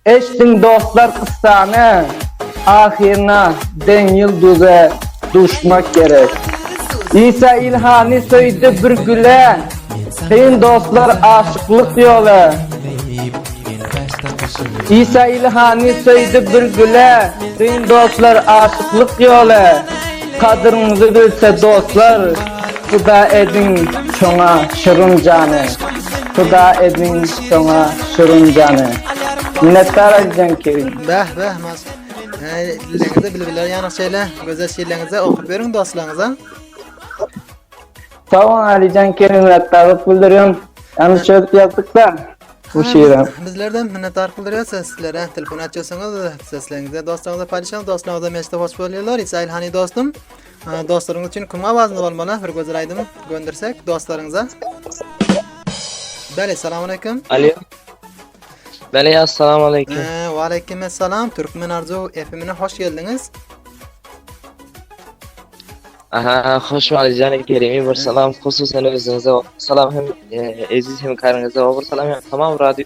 Eşdiň dostlar kyssany ahyryna deň ýulduza duşmak gerek. Isa Ilhany söýdi bir güle kyn dostlar aşyklyk ýola. Isa Ilhany söýdi bir güle kyn dostlar aşyklyk ýola. Kadyryňyzy bilse dostlar pida ediň şoňa şirin jany. Huda edin soňa şirin jany. Minnetdar edin ki. Beh beh mas. Hey, dileňizde bilbiler ýanyň şeýle gözel şiirleriňizi okup beriň dostlaryňyza. Sag bol Alijan Kerim minnetdarlyk bildirýän. Ýany şöp ýazdyk-da bu şiiri. Bizlerden minnetdarlyk bildirýär sizlere. Telefon açýarsyňyz, sesleriňizi dostlaryňyza paýlaşyň, dostlaryňyz hem eşidip hoş bolýarlar. Israil hany dostum. Dostlaryňyz üçin kim awazynda bolmaly? Bir gözel aýdym göndersek dostlaryňyza. Bele, salam aleyküm. Alo. Bele, assalamu aleyküm. Ee, wa aleyküm assalam. Türkmen Arzu FM-ine hoş geldiňiz. Aha, hoş bulduk Janik Kerimi. Bir salam hususan özüňize. Salam hem e, Eziz hem karynıza. Bir salam hem tamam radyo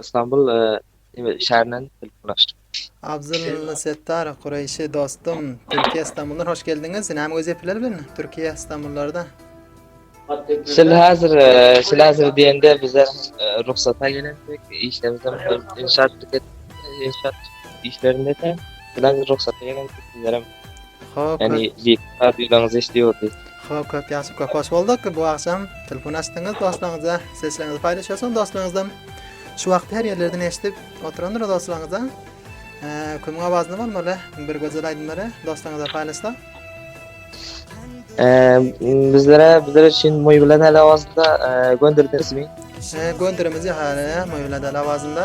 Istanbul şäherinden telefonyşdyk. Abdullah Settar Kureýşi dostum Türkiýe Istanbuldan hoş geldiňiz. Näme wezipeler bilen Türkiýe Istanbullarda? Şul hazir şul hazir diýende bize rugsata gelendik. Işlerimizem inşaat inşaat işlerinde de bilen rugsata gelendik. Ýani Ýiti radiolarňyz eşdi ýordi. Hop köp ýaşap köp hoş bolduk bu agşam telefon açdyňyz dostlaryňyza sesleriňizi paýlaşýarsyňyz dostlaryňyzdan şu wagt her ýerlerden eşdip oturandyr dostlaryňyza kimiň awazyny bolmaly bir gözel aýdymlary dostlaryňyza paýlaşsa bizlere bizler üçin moý bilen el awazynda gönderdiňizmi gönderimiz ýa hali moý bilen el awazynda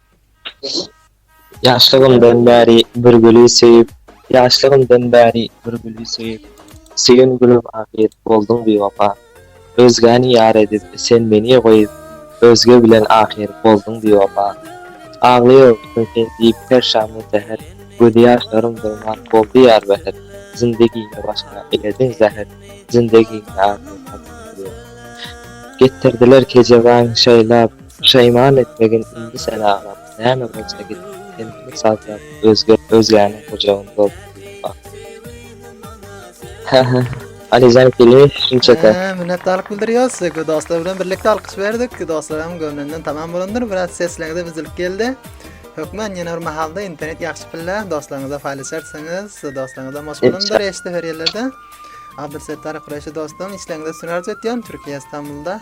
Ýaşlygymdan bäri bir güli söýüp Ýaşlygymdan bäri bir güli söýüp Söýen gülüm ahyr bolduň biwepa Özgäni ýar edip sen meni goýup Özge bilen ahyr bolduň biwepa Aglaýaryn sen diýip her şam we säher Gözi ýaşlarym dogman boldy ýar bäher Zindegimi başyma elediň zäher Zindegimi ahyr bolduň biwepa Getirdiler kejebaň şaýlap Puşaýman etmegin indi sen aglap, näme bolsa git, kendini sazlap, özgert, özgäniň gujagyny dolduryp bak. Hä-hä, Alijan keli şunçaka. Hä, minnetdarlyk bildirýäs. Söýgi dostlar bilen birlikde alkyş berdik. Dostlaram göwnünden tamam bolandyr. Biraz sesleňize bizlik geldi. Hökman ýene bir mahalda internet ýagşy pille dostlaryňyza paýlaşarsyňyz. Dostlaryňyza hoş bolandyr eşdi her ýerlerde. Abdulsettar Kureşi dostum, işleňize süňňer arzuw etýän Türkiýe Istanbulda.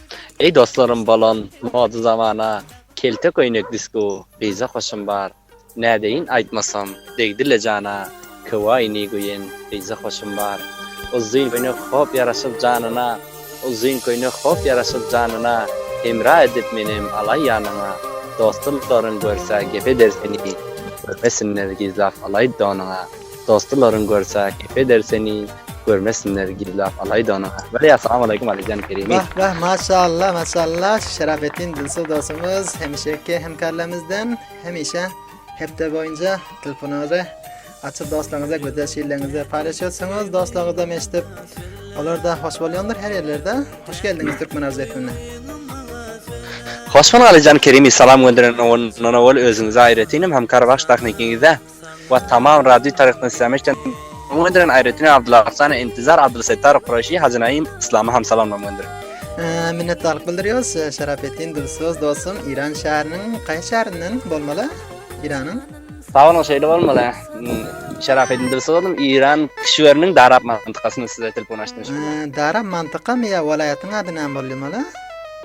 Eý dostlarym bolan moda zamana Kelte köýnek disko gyza hoşum bar Nädeýin aýtmasam degdile jana Köwaýni göýen gyza hoşum bar Uzyn köýnek hop ýaraşyp janyna Uzyn köýnek hop ýaraşyp janyna Hemra edip menem alaý ýanyňa Dostlaryň görse gep eder seni Görmesinler gizlap alaý donyňa. Dostularyň görse kep eder seni görmesinler gizlap alaýda ony. Bele ýa salam aleýkum Alijan Kerimi. Wah wah maşallah maşallah Şerafettin Dilsow dostumyz hemişeki hemkarlarymyzdan hemişe hepde boýunca telefonyňyzy açyp dostlaryňyza gözel şiirleriňizi paýlaşýarsyňyz dostlaryňyzam eşidip olar da hoş bolýandyr her ýerlerde. Hoş geldiňiz Türkmen arz etmine. Hoş bol Alijan Kerimi salam gönderen ondan owal özüňize aýratyn hem hemkar baş tahnikiňize. we tamam raddi taryhdan islami işden Salam gönderen aýratyn Abdylla Arsana Intizar Abdylla Settar Kuraşi Hajy Naim Islama ham salam gönder. Minnetdarlyk bildirýäs Şerafettin Dilsöz dostum Iran şäheriniň gaýsy şäherinden bolmaly Iranyň? Sag boluň şeýle bolmaly. Şerafettin Dilsöz oglum Iran kişiweriniň Darap mantykasyndan size telefon açdym. Darap mantykamy ýa welaýatyň ady näme bolýamaly?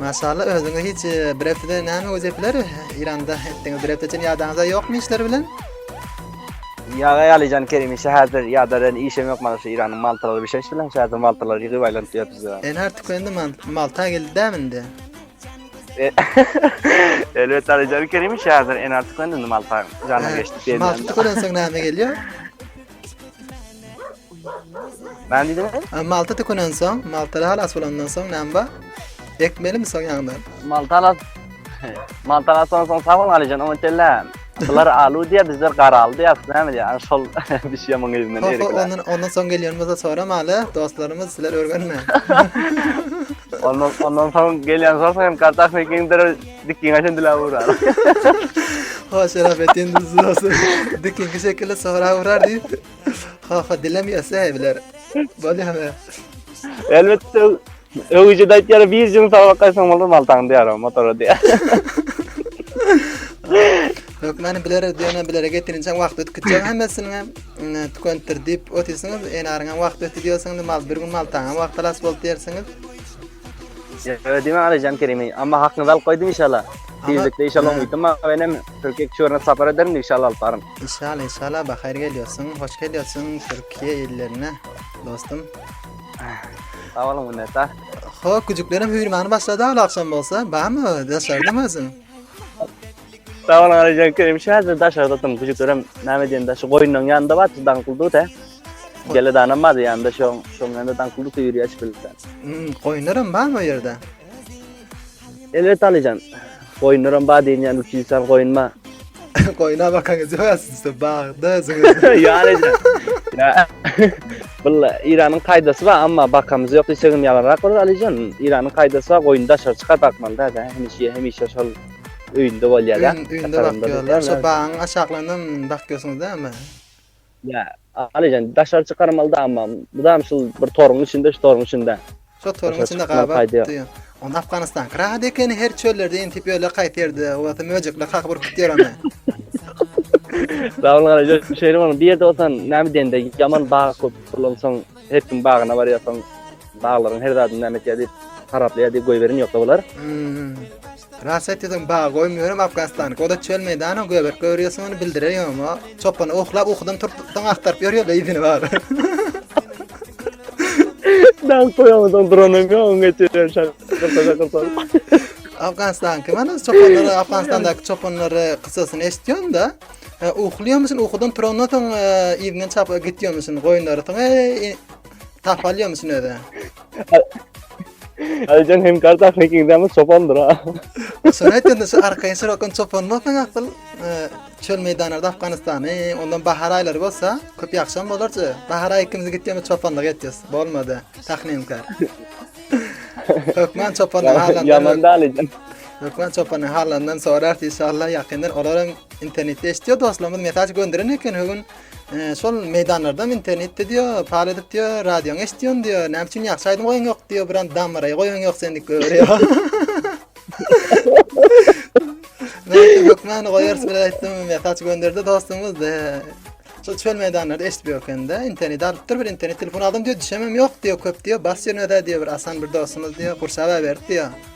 Maşallah özüňe hiç bir hepde näme göz ýepiler? Iranda etdiňiz bir hepde üçin ýadaňyzda ýokmy işler bilen? Ýaga ýalyjan Kerimi şäherdir ýadadan işem ýok mana şu Iranyň maltalary bişeş bilen şäherdir maltalary ýygyp aýlanyp ýörüz. En artık öndi malta geldi dämi indi? Elbet Alijan Kerimi şäherdir en artık öndi malta jana geçdi diýen. Malta görenseň näme gelýär? Näme diýdiňiz? Ha, Malta tükenen soň, Malta halas bolandan soň näme bar? Ekmelimi soň ýaňdan. Maltalas. Maltalas soň soň sag bol Alijan, oňa çelle. Bular alu diýär, bizler garaly diýär, näme diýär? Ana şol bir şey maňa ýüzünden Ho, ho, erik. ondan, ondan soň gelýän bolsa soram hala, dostlarymyz sizler örgenme. Ondan ondan soň gelýän soň hem kartak mekiň Dikkiň aşan dila urar. Ha şerap etin duzlasın. Dikinki şekilde sonra urar diýip. Ha ha dilem ýasa biler. Bol ýa. Elbetde öwüji daýt ýara bir jyň saglap gaýsaň bolar maltaň diýär motora diýär. Hökmany bilere diýene bilere getirinçe wagt ötkütjek hemmesini hem tükentdir diýip otyrsyňyz. Enaryň hem wagt ötdi diýersiňiz. Mal bir gün maltaň hem wagt alas bol diýersiňiz. Ýa diýme Alijan Kerimi, amma hakyňyzy alyp goýdum inşallah. Tizlikde inşallah oňa gitdim ama benim Türkiye çörüne sapar ederim de inşallah alyp barym. İnşallah inşallah bahar geliyorsun. Hoş geliyorsun Türkiye illerine dostum. Sağ olun minnetdar. Ho küçüklerim hüýrmany başladı al akşam bolsa. Bamy dışarda mı özün? Sag bolun Alijan Kerim şäde daşa zatym güjüklerim näme diýen daşy goýunlaryň ýanynda bar daň kuldu tä. Gele danam bar ýanynda şoň şoň ýanynda daň kuldu ýüri açyp bilipdi. Hmm goýunlaram bar bu ýerde. Elbet Alijan. Goýunlaram bar diýen ýaly üçi insan goýun bar. Goýuna bakan gije ýasyň üstü bagda özüňiz. Ýa Alijan. Ýa. Bulla Iranyň kaýdasy bar amma bakamyz ýok diýsegem ýalanrak bolar Alijan. Iranyň kaýdasy bar goýun daşary çykar bakmaly däde hemişe hemişe şol. öýünde bolýarlar. Öýün, öýünde bakýarlar. Şo bagyň aşaklaryna bakýarsyňyz da emma. Ýa, Alijan, daşary çykarmaly da emma. Bu da şul bir toruň içinde, şu toruň içinde. Şo toruň içinde gabat diýýär. Onda Afganistan rahat ekeni her çöllerde intip öle kaýsy ýerde bolsa möjekler kakyp urkup ýör ony. Dawul garaja şeýle bolan bir ýerde bolsan näme diýende ýaman bag köp bolansoň Her kim bagyna barýar, soň baglaryň her zadyny näme etýär diýip, haraplaýar diýip goýberin ýoksa bular. Ras aýtdyň, bag goýmaýarym Afganistany. Goda çöl meýdany göbek görýärsiň, ony bildirer ýoma. Çopany oklap, ukudan turtupdan agtaryp ýörýärler ýüzüni bar. Dal toýamadan duranym ýok, oňa geçýän şak. Gyrtaja gyrtar. Afganistan kim ana çopanlar Afganistandaky çopanlary kyssasyny eşitýän da. Uklýamyşyn ukudan turandan soň yzyňdan çap gitýämişin goýunlaryň eý tapalýamyşyn öze. Aýjan hem garda hekiňdämi çopandyr ha. Sen aýtdyň şu arkaýyn sorakan çopan bolsaň asyl çöl meýdanlarda Afganistany ondan bahar aýlary bolsa köp ýagşam bolardy. Bahar aýy ikimiz gitýämi çopanlyk etjäs. Bolmady. Tahninkar. Hökman çopanlyk aýlary. Ýaman daly. Lukman çopanyň hallaryndan sorarys inşallah ýakyndan olar hem internetde eşitýär dostlarymyz mesaj gönderen eken ögün e, şol meýdanlardan internetde diýär pal edip diýär radioň eşitýän diýär näme üçin ýagşy aýdym goýaň ýok diýär bir an damaraýy goýaň ýok sen diýip göwürýär Lukman goýarys bir aýtdym mesaj gönderdi dostumyz e, şol çöl meýdanlarda eşitip ýokende internet alypdyr bir internet telefon aldym diýär düşemem ýok diýär köp diýär bas ýerine diýär bir asan bir dostumyz diýär gurşap berdi diýär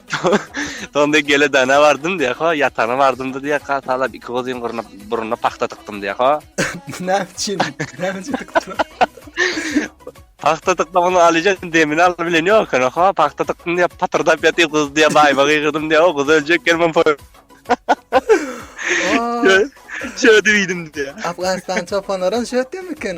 Soňra diýýär, geledana bardym diýýär, ha, ýatana bardym-da diýýär, hasalap iki gyzyň gyryna, burnuna pagta tykdym diýýär, ha. Näme üçin? Näme üçin tykdylar? Pagta tykdym, onuň alyjak demini alyp bilen ýok eken, ha, pagta tykdym diýýär, patyrdap ýatyr gyz diýýär, baýyma gygyrdym diýýär, o gyz öljek eken, men poý. Şöýdip iýdim diýýär. Afganystan çopanlaram şöýtdemikin?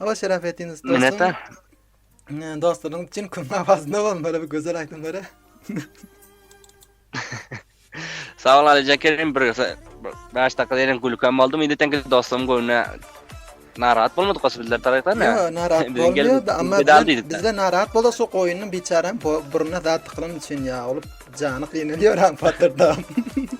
Aba Şerafettin dostum. Minnetdar. Dostlaryň üçin küm awazynda bolun böyle bir gözel aýdymlara. Sag ol Alijan Kerim, bir 5 dakika deýin gülkem boldum. Indi teňki dostum göwne narahat bolmadyk goşy bizler tarapdan. Ýa, narahat bolmaýardy, amma bizde narahat bolsa şu goýunyň biçärem buruna zat tıkylan üçin ýa, olup jany gynalýar hem patyrda.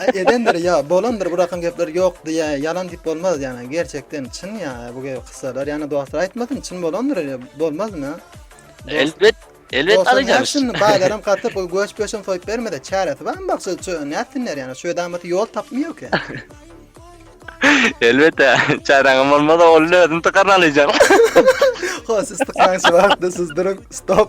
Aý edendir ýa bolandyr bu rakam gepler ýok diýä ýalan diýip bolmaz ýana gerçekden çyn ýa bu ge kyssalar ýana dostlar aýtmasyn çyn bolandyr ele bolmazmy Dos- Elbet, elbet Dostlar alaýjak. nätsin baýlaram gatyp bu göç pöçem soýup bermese çäresi barmy bak şu şu nätsinler ýana şu edamaty ýol tapmy ýok ýa. Elbetde, çäräňem bolmasa ol özüni tykaryn alaýjak. Ho siz tıklan şu wagtda siz durun stop.